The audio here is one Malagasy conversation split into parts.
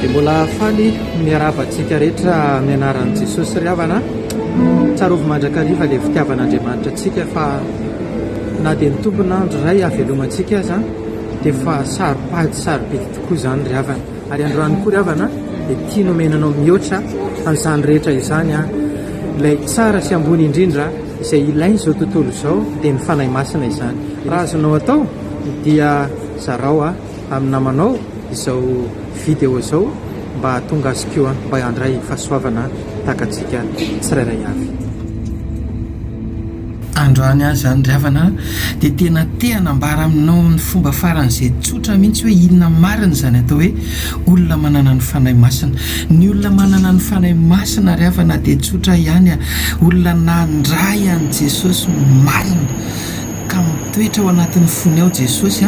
Dia mbola faly miarahaba antsika rehetra amin'ny anaran'i Jesosy ry havana. Tsarovy mandrakariva ilay fitiavan'Andriamanitra antsika fa na dia ny tompon'andro iray havelomantsika aza dia fa saro-pady sarobidy tokoa izany ry havana. Ary androany koa ry havana dia tia nomenanao mihoatra an'izany rehetra izany ilay tsara sy ambony indrindra Izay ilain'izao tontolo izao dia ny Fanahy Masina izany. Raha azonao atao dia zarao amin'ny namanao izao video izao mba hahatonga azy koa mba handray fahasoavana tahaka antsika tsirairay avy. Androany aza izany ry havana dia tena te hanambara aminao amin'ny fomba faran'izay tsotra mihitsy hoe inona marina izany atao hoe olona manana ny Fanahy Masina. Ny olona manana ny Fanahy Masina ry havana dia tsotra ihany. Olona nandray an'i Jesosy marina ka mitoetra ao anatin'ny fony ao Jesosy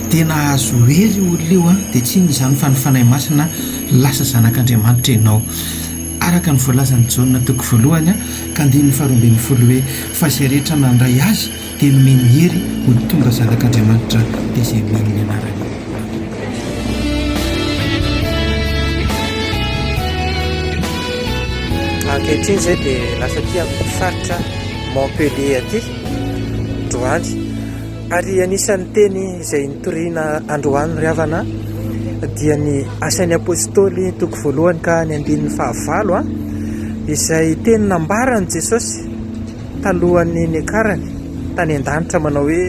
dia nahazo hery io olona io dia tsy inona izany fa ny Fanahy Masina lasa zanak'Andriamanitra ianao araka ny voalazan'i Jaona toko voalohany ka andininy faharoa ambin'ny folo hoe fa izay rehetra nandray azy dia nomeny hery ho tonga zanak'Andriamanitra dia izay mino ny anarany. Ankehitriny izay dia lasa aty amin'ny faritra Montpellier aty androany ary anisan'ny teny izay nitoriana androany ry havana dia ny asan'ny apôstôly toko voalohany ka ny andininy fahavalo a izay teny nambaran'i Jesosy talohan'ny niakarany tany an-danitra manao hoe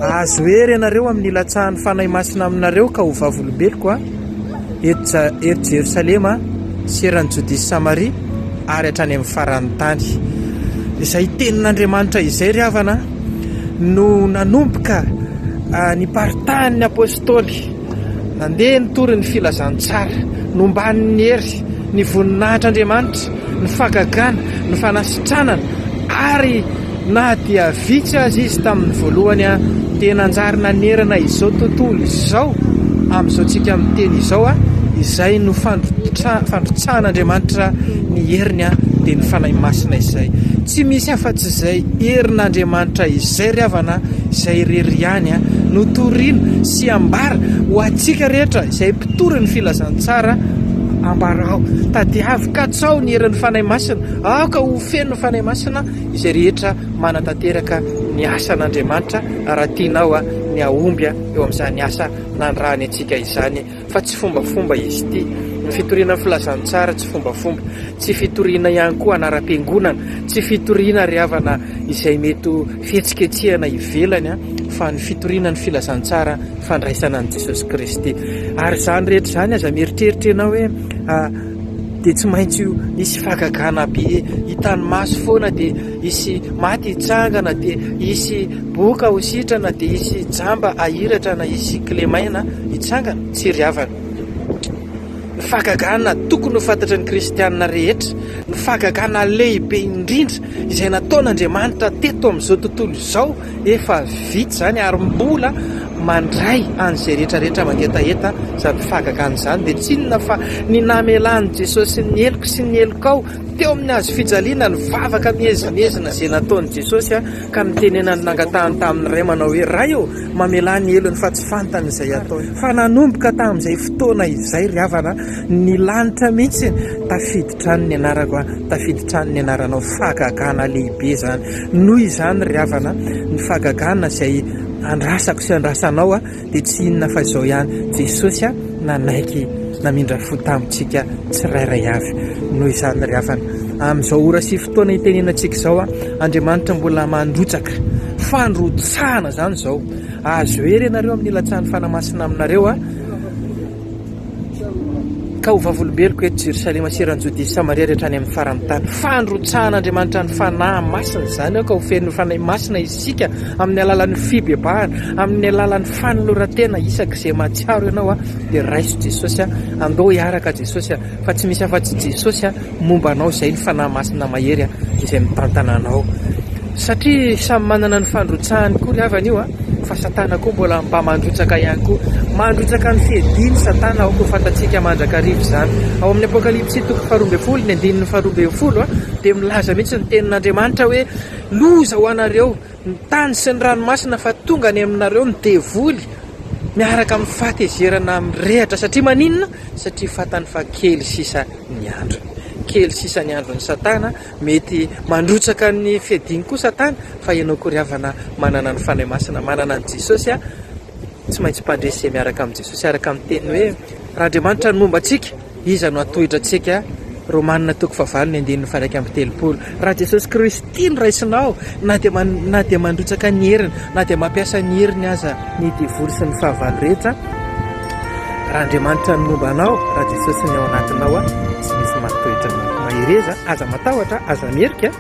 ahazo hery ianareo amin'ny hilatsahan'ny Fanahy Masina aminareo ka ho vavolombeloko a eto eto Jerosalema sy eran'ny Jodia sy Samaria ary hatrany amin'ny faran'ny tany izay tenin'Andriamanitra izay ry havana no nanomboka ny paritahan'ny apôstôly Nandeha nitory ny filazantsara, nombany ny hery, ny voninahitr'Andriamanitra, ny fahagagana, ny fanasitranana, ary na dia vitsy aza izy tamin'ny voalohany dia nanjary nanerana izao tontolo izao amin'izao tsika miteny izao, izay no fandrotsahan'Andriamanitra ny heriny dia ny Fanahy Masina izay tsy misy afa-tsy izay herin'Andriamanitra izay ry havana izay irery ihany no torina sy ambara ho antsika rehetra izay mpitory ny filazantsara ambarao. Tadiavo katsao ny herin'ny Fanahy Masina. Aoka ho feno ny Fanahy Masina izay rehetra manatanteraka ny asan'Andriamanitra raha tianao ny hahomby eo amin'izany asa nandrahany antsika izany fa tsy fombafomba izy ity. Ny fitoriana ny filazantsara tsy fombafomba, tsy fitoriana ihany koa anaram-piangonana, tsy fitoriana ry havana izay mety fihetsiketsehana ivelany fa ny fitoriana ny filazantsara fandraisana an'i Jesosy Kristy. Ary izany rehetra izany aza mieritreritra ianao hoe dia tsy maintsy io hisy fagagana be hitan'ny maso foana dia hisy maty hitsangana dia hisy boka ho sitrana dia hisy jamba ahiratra na hisy kilemaina hitsangana sy ry havana. Ny fahagagana tokony ho fantatry ny kristiana rehetra, ny fahagagana lehibe indrindra izay nataon'Andriamanitra teto amin'izao tontolo izao, efa vita izany ary mbola mandray an'izay rehetra rehetra mangetaheta izany fahagagana izany dia tsy inona fa ny namelan'i Jesosy ny heloko sy ny helokao teo amin'ny hazo fijaliana, ny vavaka mihezinezina izay nataon'i Jesosy. Ka nitenenany nangatahany tamin'ny Ray manao hoe, Ray ô, mamelà ny helony fa tsy fantany izay ataony. Fa nanomboka tamin'izay fotoana izay ry havana, ny lanitra mihitsy tafiditra any ny anarako an, tafiditra any ny anaranao. Fahagagana lehibe izany. Noho izany ry havana, ny fahagagana izay andrasako sy andrasanao an, dia tsy inona fa izao ihany, Jesosy a, nanaiky namindra fo tamintsika tsirairay avy. Noho izany ry havana, amin'izao ora sy fotoana itenenantsika izao a, Andriamanitra mbola mandrotsaka fandrotsahana izany izao. Azo hery ianareo amin'ny hilatsahan'ny Fanahy Masina aminareo a. Ka ho vavolombeloko eto Jerosalema sy eran'i Jodia sy Samaria rehetra any amin'ny faran'ny tany. Fandrotsahan'Andriamanitra ny fanahy masina izany aoka ho feno fanahy masina isika amin'ny alalan'ny fibebahana, amin'ny alalan'ny fanoloran-tena isaka izay mahatsiaro ianao dia raiso Jesosy a, andao hiaraka Jesosy a, fa tsy misy afa-tsy Jesosy a. momba anao izay ny Fanahy Masina mahery izay mitantana anao. Satria samy manana ny fandrotsahany koa ry havana io fa Satana koa mbola mba mandrotsaka ihany koa. Mandrotsaka ny fiediany Satana ao koa fantatsika mandrakariva izany. Ao amin'ny Apokalypsy toko faharoa ambin'ny folo ny andininy faharoa ambin'ny folo dia milaza mihitsy ny tenin'Andriamanitra hoe loza ho anareo ny tany sy ny ranomasina fa tonga any aminareo ny devoly miaraka amin'ny fahatezerana mirehatra satria maninona satria fatany fa kely sisa ny androny kely sisa ny andron'ny satana mety mandrotsaka ny fiadiny koa satana fa ianao koa ry havana manana ny fanahy masina manana ny jesosy a tsy maintsy mpandresy izay miaraka amin'i jesosy araka amin'ny teny hoe raha andriamanitra ny momba antsika Iza no hatohitra antsika? Romana toko fahavalo ny andininy faha iraika amby telopolo. Raha Jesosy Kristy tia ny raisinao, na dia na dia mandrotsaka ny heriny, na dia mampiasa ny heriny aza ny devoly sy ny fahavalo rehetra, raha Andriamanitra no momba anao, raha Jesosy ny ao anatinao, tsy misy mahatohitra anao. Mahereza, aza matahotra, aza mierika.